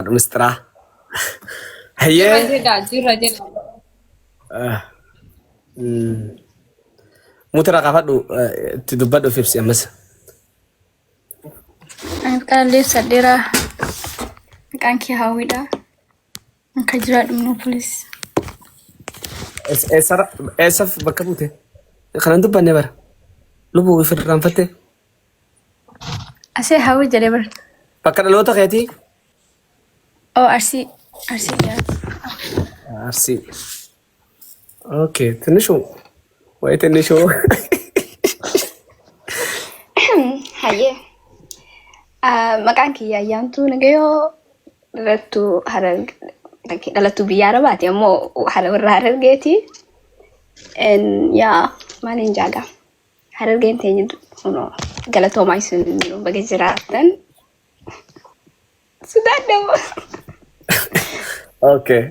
Waaqa mistiraa. Jirra Hayyee. jedha, jirra jedha. Ah, mm. Mutira kaafadhu eh, itti dubbadhu fibsi ammas. Anaaf kanallee ibsadheera. Maqaan kee hawwiidha. Akka jiraadhu immoo polis. Es- Eessara eessaf bakka buute? Kanan dubbanne bara. Lubbuu ifirraanfattee. Asee hawwi jedhe bar. Bakka dhaloota keetii? Oo arsii. Arsii jedhama. Arsii. Okay, tinishu. Wayi tinishu. Hayyee. Ah, Maqaan kiyya ayyaantuu nagayoo dhalattuu hararge dhalattuu biyya arabaati ammoo hara warra harargeeti. En, Yaa maaliin jaagaa? Harargeen teenya kunoo galatoomaa isin baga jiraattan. Sudaan dawoo. Okay.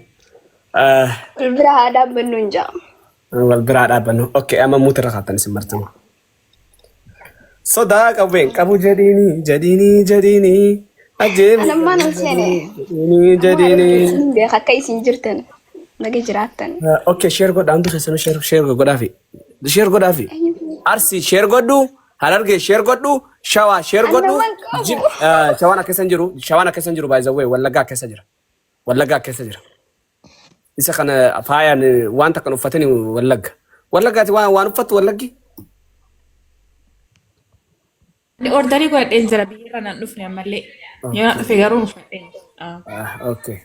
Ah, Bira haa dhaabbannu hin jaa'u. Wal biraa dhaabbannu. Okay, amma muuti irra kaattan isin martama. Sodaa qabeen qabu jedhiini jedhiini jedhiini. Ajjeemi. Anammaa nan seene. Jedhiini jedhiini. Beeka akka isin jirtan baga jiraattan. Ah, Okay, share godhaa hundi keessanuu share share godhaafi. Share godhaafi. Arsi share godhu, Harargee share godhu, Shawaa share godhu. Annaman qabu. Jib eh, Shawaan akka isan jiru, Shawaan akka isan jiru by the way Wallaggaa akka isa jira. Wallaggaa akka isa jira. Isa kana faayaan eh, waan takkan uffatani Wallagga. Wallaggaati waan waan uffattu Wallaggi. Ani ordarii godhadheen jira biyyarra nan dhufne ammallee. Yoo na Okay. dhufe garuu uffadheen. Ah. Ah, okay.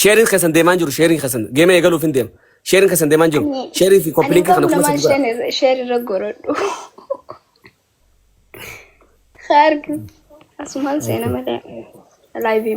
Sheeriin keessan deemaan jiru sheeriin keessan geema eegaluuf hin deema. Sheeriin keessan deemaan jiru. Ani Sheerii fi ani koppilinka kana garuu fuula namaan sadii godha. sheen sheen irra gorodhu. Haa argu. Asumaan seena malee. Laayivii.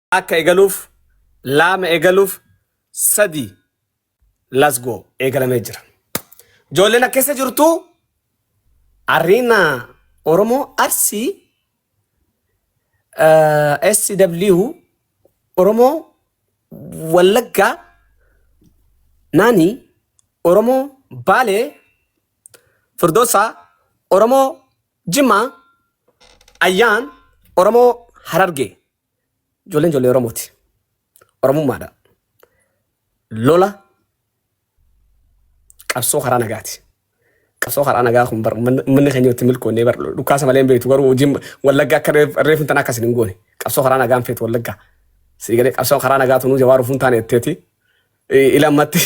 akka egaluuf laama egaluuf sadi let's go eegalamee jira ijoolleen akka keessa jirtu ariina oromoo arsii eh, sw oromoo wallaggaa naani oromoo baalee firdoosaa oromoo jimaa ayyaan oromoo harargee Ijoolleen ijoollee Oromooti. Oromummaadha. Lola qabsoo karaa nagaati. Qabsoo karaa nagaa kun bar ummanni ummanni keenya itti milkoonnee bar dhukaasa malee hin beektu garuu hojiin wallaggaa akka reef- reefin tan akkas hin goone. Qabsoo karaa nagaan feetu wallaggaa. Sii galee qabsoo karaa nagaa tunuu jawaa rufuun taane jetteeti. I- Ila ammatti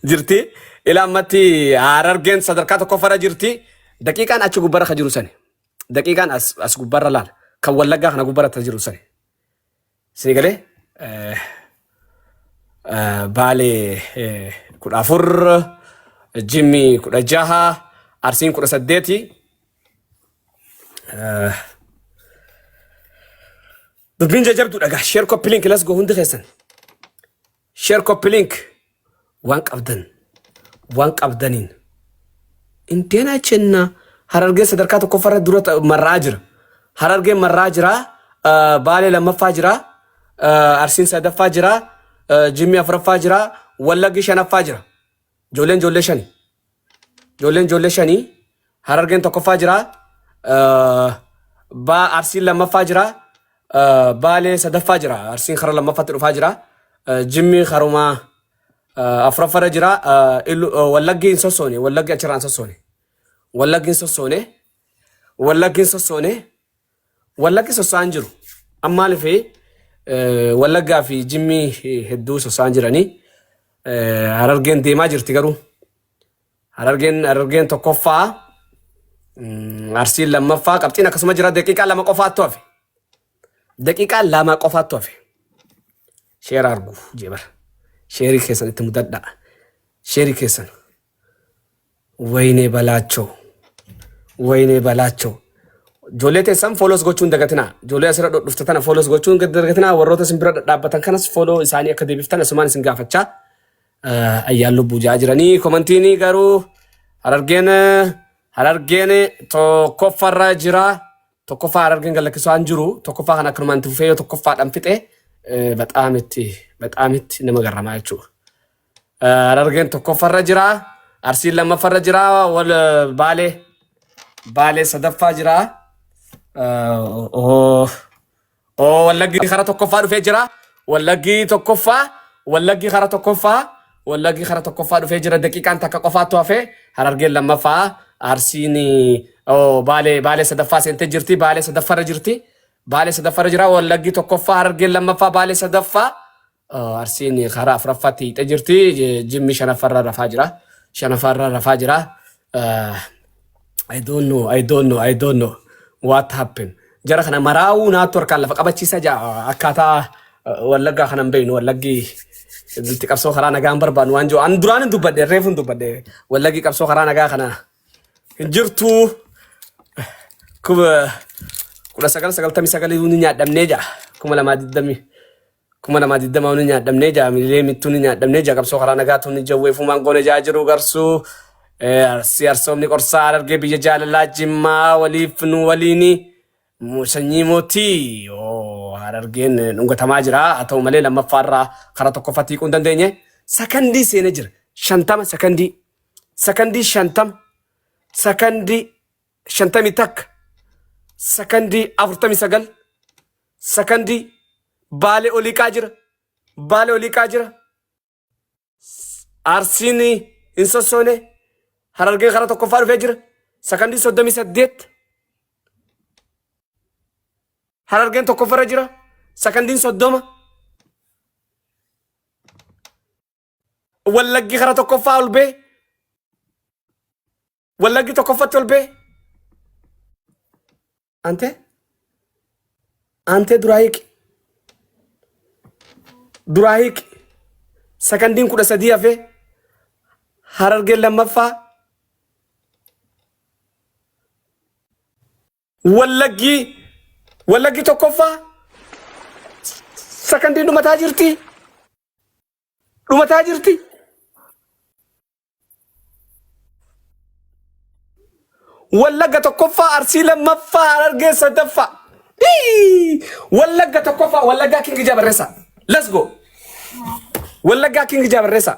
jirti. Ila ammatti harargeen sadarkaa tokkoffaarra jirti. Daqiiqaan achi gubbarra ka jiru sani. daqiiqaan as as gubbaarra laala kan wallaggaa kana gubbaarra ta jiru sani sini galee eh, eh, baalee eh, kudha afur jimmi kudha jaha arsiin kudha saddeeti eh, dubbiin jajabduudha gaa sheer koppi link las go hundi keessan Share copy link waan qabdan waan qabdaniin inteenaa chenna harargee sadarkaa tokkoffarra dura ta- marraa jira harargeen marraa jira ah, baalee lammaffaa jira ah, arsiin sadaffaa jira ah, jimmi afraffaa jira wallaggi shanaffaa jira Ijoolleen ijoollee shani. Ijoolleen ijoollee shanii Harargeen tokkoffaa jira. eh, Baa Arsiin lammaffaa jira. eh, Baalee sadaffaa jira. Arsiin kara lammaffaatti dhufaa jira. eh, Jimmi karumaa eh, afuraffaarra jira. eh, Illu- eh, Wallaggi hin sossoone. Wallaggi achirraa hin sossoone. Wallaggi hin sossoone. Wallaggi hin sossoone. Wallaggi sossaan jiru. Amma maaliif Wallaggaa fi Jimmii hedduu sossaan jiranii Harargeen deemaa jirti garuu. Harargeen Harargeen tokkoffaa Arsiin lammaffaa qabxiin akkasuma jira daqiiqaa lama qofaattu hafe. Daqiiqaa lama qofaattu hafe. Sheera argu jebar. Sheerii keessan itti mudadhaa. Sheerii keessan. Wayinee Balaachoo. Wayinee Balaachoo. Ijoollee teessan foolos gochuu hin dagatinaa. Ijoollee asirra dhufte tana foolos gochuu hin dagatinaa. Warroota isin bira dhadhaabbatan kanas fooloo isaanii akka deebiftan asumaan isin gaafachaa. Eh, Ayyaan lubbuu jaa jiranii komantiini garuu harargeen eh, harargeen tokkoffarra jira. Tokkoffaa harargeen gallakkisuu hin jiru. Tokkoffaa kan akkanumaan itti fufee yoo tokkoffaadhaan fixe eh, baxaamitti baxaamitti nama garramaa jechuudha. Harargeen tokkoffarra jira. Arsiin lammaffarra jira. Wal baalee baalee sadaffaa jira. Oo wallaggi kara tokkoffaa dhufee jira. Wallaggi tokkoffaa wallaggi kara tokkoffaa wallaggi kara tokkoffaa dhufee jira. Daqiiqaan takka qofaattu hafee harargeen lammaffaa arsiin baalee baalee sadaffaa seentee jirti. Baalee sadaffarra jirti. Baalee sadaffarra jira. Wallaggi tokkoffaa harargeen lammaffaa baalee sadaffaa. Arsiin karaa afuraffaatti hiixee jirti. Jimmi shanaffarra rafaa jira. Shanaffarra rafaa jira. I don't know, I don't know, I don't know what happened. Jara kana maraa'uu naattu harkaan lafa qabachiisa jaa akkaataa wallaggaa kana hin beeknu wallaggi itti qabsoo karaa nagaa hin barbaannu waan jiru. An duraan hin dubbadde reefu hin dubbadde wallaggi qabsoo karaa nagaa kana hin jirtu. Kuma kudha sagal sagaltamii sagalii ni nyaadhamnee jaa kuma lamaa digdamii. Kuma namaa digdama uni nyaadhamnee jaa mililee mittuu ni nyaadhamnee jaa qabsoo karaa nagaa tuunni jawwee fuumaan goone jaa jiruu garsuu eh, arsii arsoomni qorsaa arargee biyya jaalalaa jimmaa waliif nu waliini mu- sanyii mootii oo harargeen eh, dhungatamaa jira haa ta'u malee lammaffaa irraa karaa tokkoffaa tiiquu hin dandeenye sakandii seenee jira shantama sakandii sakandii shantama sakandii shantamii takka sakandii afurtamii sagal Sakandii. Baale oliiqaa jira. Baale oliiqaa jira. Arsiin hin sossoone. Harargeen karaa tokkoffaa dhufee jira. Sakandii soddomii saddeet. Harargeen tokkoffarra jira. Sakandiin soddoma. Wallaggi kara tokkoffaa ol bee. Wallaggi tokkoffatti ol bee. Antee? Antee duraa hiiki. Duraa hiiki. Sakandiin kudha sadii hafee. Harargeen lammaffaa. Wallaggi. Wallaggi tokkoffaa. Sakandiin dhumataa jirti. dhumataa jirti. Wallagga tokkoffaa Arsii lammaffaa Harargee sadaffaa. Hii! Wallagga tokkoffaa Wallaggaa Kingi Jabarreessaa. Let's go. Wallaggaa Kingi Jabarreessaa.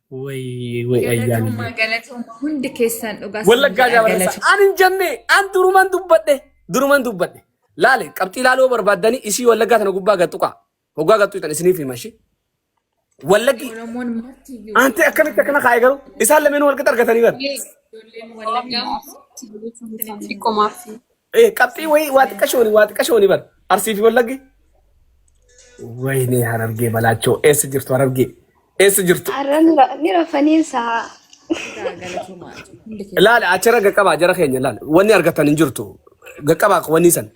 Way way ayyaanillee. Galatoomaa galatoomaa hundi keessaan dhugaa sin Wallaggaa jedha jaabarreessa. galatoomaa. An hin jenne, an duruman dubbadhe, duruman dubbadhe. Laale, qabxii laaloo barbaaddanii isii wallaggaa tana gubbaa gattuqaa. Hoggaa gattuu tan isiniif hima ishee. Wallaggi, Oromoon marti iyyuu aantee akkamitti akkana kaa'e garuu isaan lameen walqixa argatanii bara. Ijoolleen Wallaggaa immoo isinitti qomaaf. Eh, qabxii wayii waa xiqqashooni waa xiqqashooni bar arsii fi wallaggi wayinee harargee balaachoo eessa jirtu harargee eessa jirtu Har'a ni ra- ni rafanii isaa. laala achirra gaqqabaa jara keenya laala wanni argatan hin jirtu gaqqabaa wanni san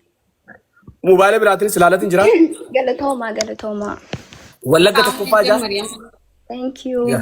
mobaayila biraatiin silaalatiin jira Galatoomaa galatoomaa. wallagga tokkoffaa jaa Thank you. Yeah.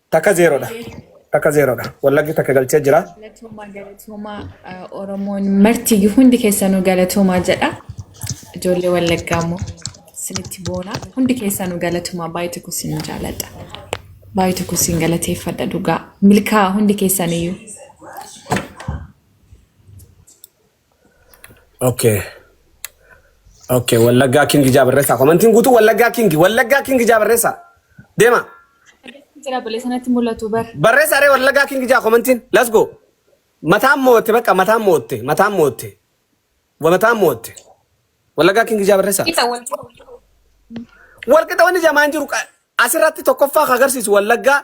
Takka zeeroodha. Takka zeeroodha. Wallaggi takka galchee jira. Galatoomaa galatoomaa eh, Oromoon marti hundi keessanuu galatoomaa jedha. Ijoollee Wallaggaa immoo isinitti boona. Hundi keessanuu galatoomaa baay'ee tokko isin jaalladha. Baay'ee tokko isin galateeffadha dhugaa. Milkaa hundi keessaniyyuu. Okay. Okay, Wallaggaa King ijaa barreessaa. Komantiin guutuu Wallaggaa King, Wallaggaa King ijaa barreessaa. Deema. Jira bulee sanatti mul'atu bar. Barreessaa ree Wallaggaa King ijaa komantiin. Let's go. Mataan mootte bakka mataan mootte, mataan mootte. Wa mataan mootte. Wallaggaa King ijaa barreessaa. Isa wal Walqixa wanni jamaan jiru qa- asirratti tokkoffaa kan agarsiisu Wallaggaa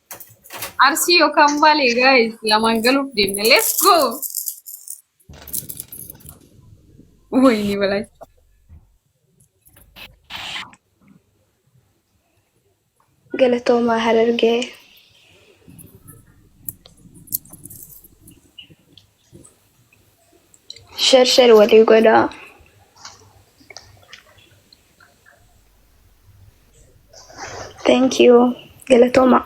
Arsii yookaan baalee gaa'ees lamaan galuuf deemna. Let's go! Wayinii balaa. Galatoomaa Harargee. Share share walii godhaa. Thank you. Galatooma.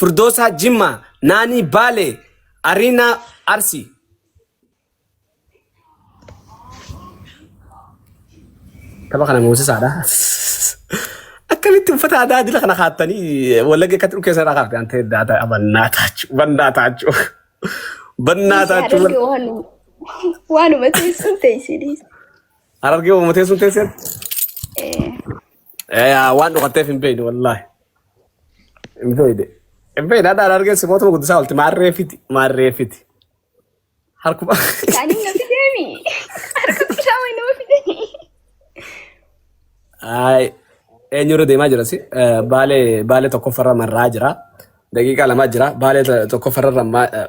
Firdoosaa Jimmaa, Naanii Baalee, Ariinaa Arsii. Tapha kana moosisaadha. Akkamitti uffata aadaa adila kana kaattanii wallagga akkatti dhukkee sana kaafte an ta'e daata bannaa taachu bannaa taachu bannaa taachu Waanuma teessuun teessini. harargee uummatee sun teesseetti. Eh, Yaa, waan dhokatteef hin beekne wallaahi. Hin beeyne. Hin beeyne adhaan argee simootuma guddisaa olti maarree fiti maarree fiti. Harkuma. Kaanii na fideemi. Harka isaa wayii nama fideemi. Ay, eenyurra deemaa jira si? Eh, Baalee baalee tokkoffarra marraa jira. Daqiiqaa lamaa jira. Baalee to- tokkoffarra rammaa. eh,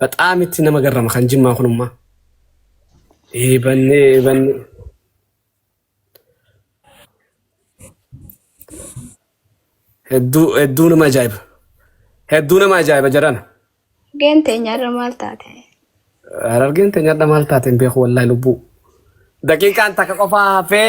Baxaam itti nama garrama kan jimmaa kunummaa. Eebanne eebanne. Hedduu hedduu nama ajaa'iba. Hedduu nama ajaa'iba jarana. Harargeen teenya irra maal taate? Harargeen teenya irra maal taate hin beeku wallaahi lubbuu. Daqiiqaan takka qofaa hafee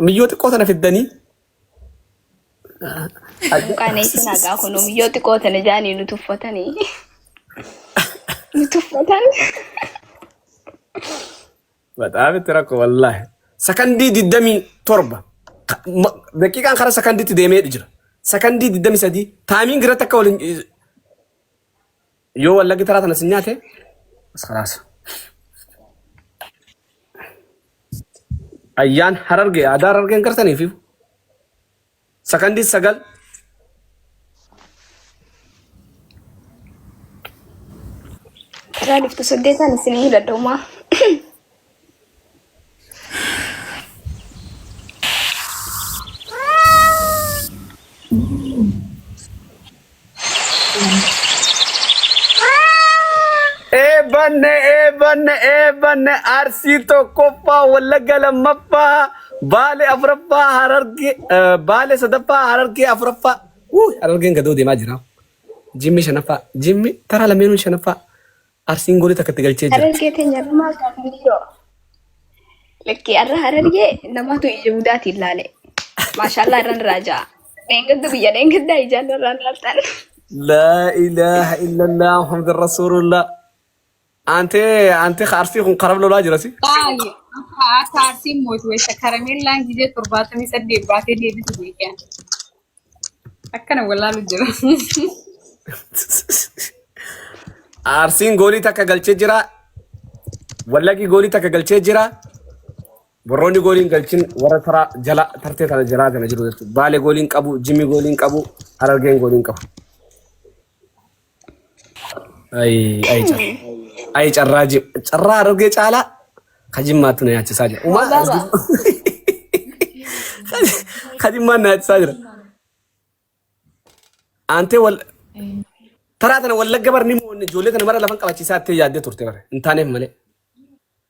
Miyyoo xiqqoo sana fiddanii. Qaneessin hagaa kun miyyoo xiqqoo sana jaanii nu tuffatanii. Nu tuffatan. Bataam itti rakko wallaahi. Sakandii digdamii torba. Ka- ma- Daqiiqaan karaa sakandiitti deemee jira. Sakandii digdamii sadii. Taamiin giratti akka waliin Yoo wallaggi taraa tana sin nyaate as kalaasa. Ayyaan hararge aadaa harargeen gartaniif sakandii sagal Raadiftu saddeetaan isin ni dadhaumaa. Eebbanne eebbanne eebbanne arsii tokkoffaa wallagga lammaffaa baale afuraffaa hararge eh, baale sadaffaa harargee afuraffaa Wuu, harargeen gadoo deemaa jira jimmi shanaffaa jimmi taraa lameenuu shanaffaa Arsiin goolii takka itti galchee jirti. Harargee teenya namaa gaafni yoo. Lakkii har'a harargee namaatu ija gudaatiin ilaale. Maashaallah irraan irraa ja'a. Dheengaddu guyyaa dheengaddaa ijaan irraan laaltan. Laa ilaaha illallah Muhammad Rasuulullah. Antee antee arsii kun karab lolaa jirasi. Baay'ee akka akka arsiin mootu wayisa karameellaan gizee torbaatamii saddeet baatee deebitu beekan. Akkana wallaalu jira. Arsiin goolii takka galchee jira. Wallaggi goolii takka galchee jira. Warroonni goolii hin galchin warra taraa jala tartee tana jalaa kana jiru jechuudha. Baalee goolii hin qabu, Jimmi goolii hin qabu, Harargeen goolii hin qabu. Ayi carraa ji- carraa argee caalaa ka jimmaattu na nyaachisaa jira. Umaa Ababa. ka jimmaan na nyaachisaa jira. Aantee wal taraa tana wallagga bar ni mo'anne ijoollee tana mara lafan qabachiisaa ittee yaaddee turte bar hin taaneef malee.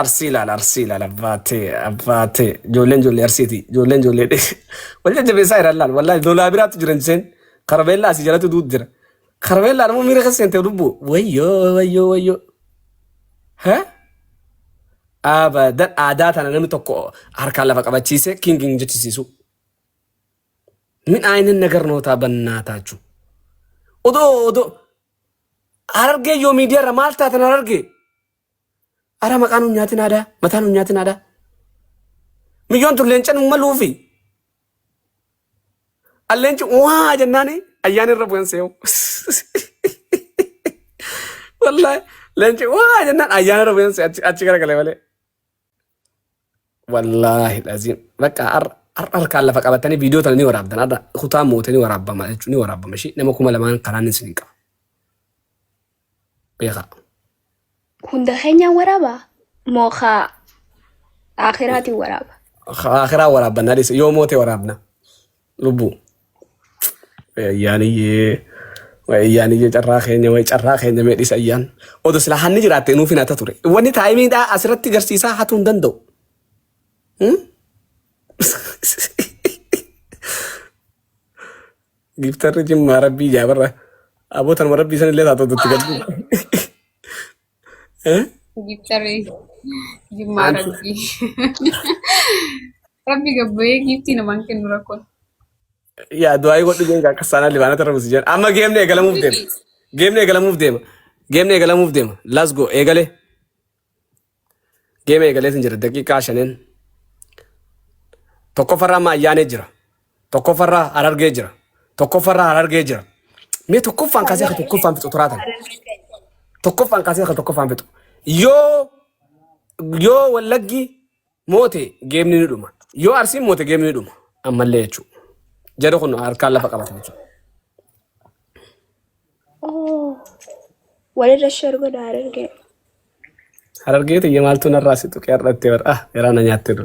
Arsii ilaal arsii ilaal abbaatee abbaatee ijoolleen ijoollee arsiiti ijoolleen ijoollee wal jajjabeessaa jiran laal wallaahi lolaa biraatti jiran seen karameellaa asii jalatti duut jira karameellaa nama miira keessa seente lubbu wayyoo wayyoo wayyoo ha abadan aadaa tana namni tokko harkaan lafa qabachiisee kiingiin jechisiisu min aayinin nagar nootaa bannaa taachuu odoo odoo Harargee yoo miidiyaarra maal taatan harargee? Ara maqaan hin nyaatin aadaa, mataan hin nyaatin aadaa. Miyyoon tun leencan hin maluufi. Alleenci waa jennaani ayyaan irra bu'an see'u. Wallaahi leenci waa jennaan ayyaan irra bu'an see'u achi garagalee malee. Wallaahi laziim. Bakka har- har- harkaan lafa qabatanii viidiyoo tana ni waraabdan. Har'a kutaa moote ni waraabama jechuun ni waraabama. Ishii nama kuma lamaan kanaan isin qaba. Beekaa. Hunda keenyaan waraaba moo kaa akiraatiin waraaba. Akiraa waraabban adis yoo moote waraabna. Lubbuu. Ayyaaniyyee. Way ayyaaniyyee carraa keenya way carraa keenya mee dhisa ayyaan. Odo silaa hanni jiraatte nuuf hin hata ture. Wanni taayimiidhaa asirratti garsiisaa hatuu hin danda'u. Hmm? Giiftarri jimmaa rabbii jaabarra. Abootanuma rabbii sanillee taatoo dutti gaddu. Giftaree jimmaa rabbii. Rabbi gabbayee giiftii namaan kennu rakkoon. Yaa du'aayii godhu beekaa akka saanaa libaanaa tarra busi jedhan. Amma geemni eegalamuuf deema. Geemni eegalamuuf deema. Geemni eegalamuuf deema. Let's go eegale. Geemni eegaleetiin jira daqiiqaa shaneen. Tokkoffarraa amma ayyaanee jira. Tokkoffarraa Harargee jira. Tokkoffarraa Harargee jira. Mee tokkoffaan kaasee akka tokkoffaan fixu turaa tana. Tokkoffaan kaasee akka tokkoffaan fixu. Yoo yoo wallaggi moote geemni ni dhuma. Yoo arsiin moote geemni ni dhuma. Ammallee jechuudha. Jara kun harkaan lafa qabata jechuudha. Oh, walirra share godha Harargee. Harargee tiyya maaltu narraa si tuqee har'attee bara. Ah, garaa na nyaatte dha.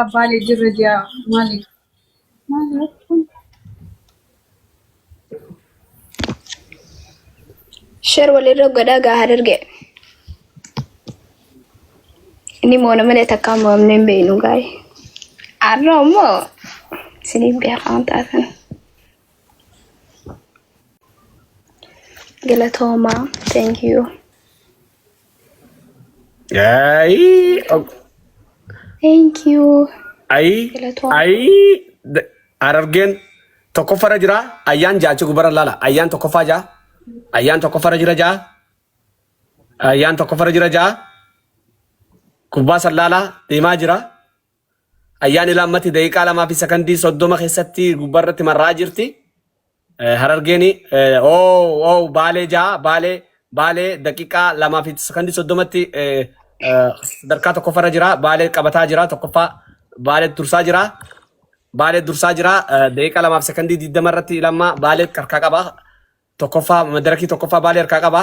Abbaa leenjii irra ji'a maali? Maali jechuun? Share walirra godhaa gaa hararge. Inni moona malee takka amma amnee hin beeknu gaari. Arra immoo isiniif beekaa waan taatan. Galatooma. Thank you. Ayii. ok. Thank you. Ayii. Galatooma. Ayii. D- Harargeen tokkoffarra jira. Ayyaan jaachi gubara laala. Ayyaan tokkoffaa jaa. Ayyaan tokkoffarra jira jaa. Ayyaan tokkoffarra jira jaa. Gubbaa san laala. Deemaa jira. Ayyaani Laammati daqiiqaa 2 fi sekondii 30 keessatti gubbaa irratti marraa jirti. Eh, Harargeen eh, oo oo baalee ja'a baalee baalee daqiiqaa 2 fi sekondii 30tti eh, eh, sadarkaa tokkoffarra jira baalee qabataa jira tokkoffaa baalee dursaa jira baalee dursaa jira eh, daqiiqaa 2 fi sekondii 20 irratti lammaa baalee harkaa qaba tokkoffaa madarakii tokkoffaa baalee harkaa qaba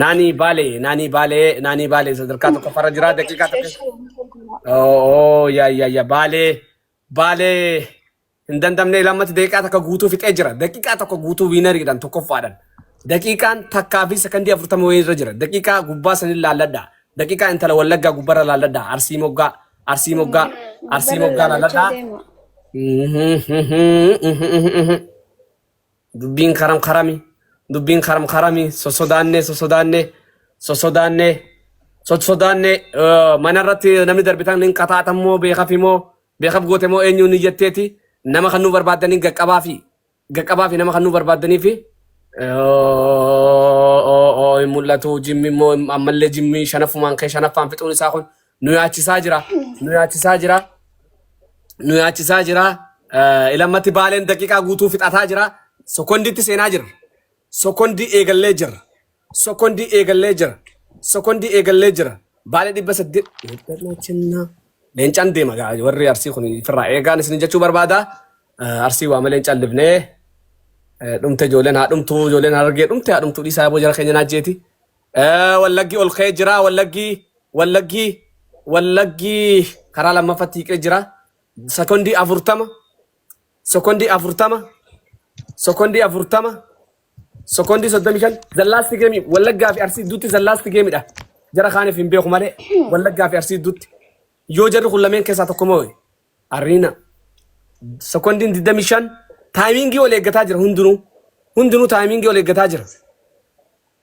Naanii baalee naanii baalee naanii baalee sadarkaa tokko farra jiraa daqiiqaa tokko. Oo yaa yaa yaa baalee baalee hin dandamne lammatti daqiiqaa takka guutuu fixee jira daqiiqaa tokko guutuu wiinariidhaan tokkoffaadhaan. Daqiiqaan takkaa fi sekondii afurtama wayii irra jira daqiiqaa gubbaa sanin laalladha daqiiqaa intala wallaggaa gubbarra laalladha arsii moggaa arsii moggaa arsii moggaa laalladha. Dubbiin karam karami. Dubbiin karam karami. Sosodaannee sosodaannee sosodaannee sosodaannee eh, mana irratti namni darbitan hin qaxaatan moo beekaf moo beekaf goote moo eenyuun ni jetteeti nama kan nu barbaadanii gaqqabaa fi gaqqabaa fi nama kan nu barbaadanii fi eh, hin mul'atu jimmi immoo ammallee jimmi shanaffumaan kee shanaffaan fixuun isaa kun nu yaachisaa jira nu yaachisaa jira nu yaachisaa jira Eh, ilammatti baaleen daqiiqaa guutuu fixataa jira sokondiitti seenaa jirra sokondii eegallee jirra sokondii eegallee jirra sokondii eegallee jirra baalee dhibba saddeet leencaan deema gaa warri arsii kun firraa eegaan isin jechuu barbaada Eh, arsii waame leencaan libnee Eh, dhumte ijoolleen haa dhumtu ijoolleen harargee dhumte haa dhumtu dhiisaa boo jara keenya naajjeeti Eh, Wallaggi ol ka'ee jira. Wallaggi, wallaggi, wallaggi karaa lammaffatti hiiqee jira. Sekondii afurtama, sekondii afurtama, sekondii afurtama, sekondii soddomii shan. Zallaasti geemii wallaggaa fi arsii gidduutti zallaasti geemidha. Jara kaaniif hin beeku malee wallaggaa fi arsii gidduutti. Yoo jarri kun lameen keessaa tokko moo arriina. Sekondiin digdamii shan taayimiingii ol eeggataa jira hundinuu. Hundinuu taayimiingii ol eeggataa jira.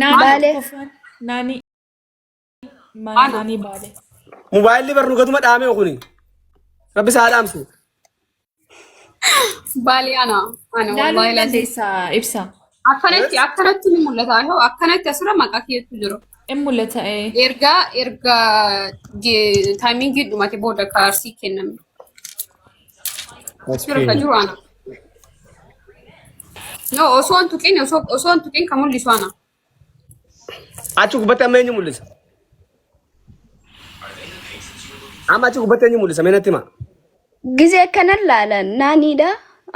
Naa Baale. kofaan naani maa- naani baale. Mobaayilli barnuu gatuma dhaamee kuni. Rabbi isaa dhaamsu. Baali ana. Ana Laaluu wallahi hin lazi. dandeessa ibsa. Akkanatti akkanatti ni mul'ata. Yoo akkanatti asirra maqaa keetu jiru. In mul'ata ee. Erga erga ge- taayimiingii dhumate booda kaarsii kenname. Jira ka jiru ana. No osoo hin tuqin osoo osoo hin tuqin ka mul'isu ana. Achi gubbatti amma eenyu mul'isa? Amma achi gubbatti eenyu mul'isa? Mee natti himaa. Gizee kanan laalan naanidha.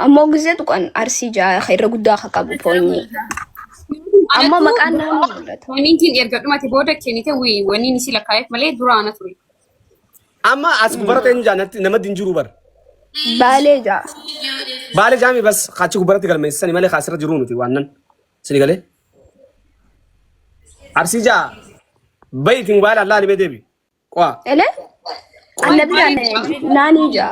Ammoo gizee tuqan arsii ja'a irra guddaa akka qabu poonyee. Ammoo maqaan naannoo mul'ata. Waniin tiin erga dhumate booda kennite wii waniin isii lakkaa'eef malee dura ana ture. Amma as gubbaratti eenyu jaan nama din jiru bar. Baalee jaa. Baale jaami bas achi gubbaratti galmeessisani malee kaasirra jiru miti waan nan. Sini galee. Arsii jaa. Bayi itti mobaayila allaa ni beedeebi. Qo'a. Ele? Anna biraan naanii jaa.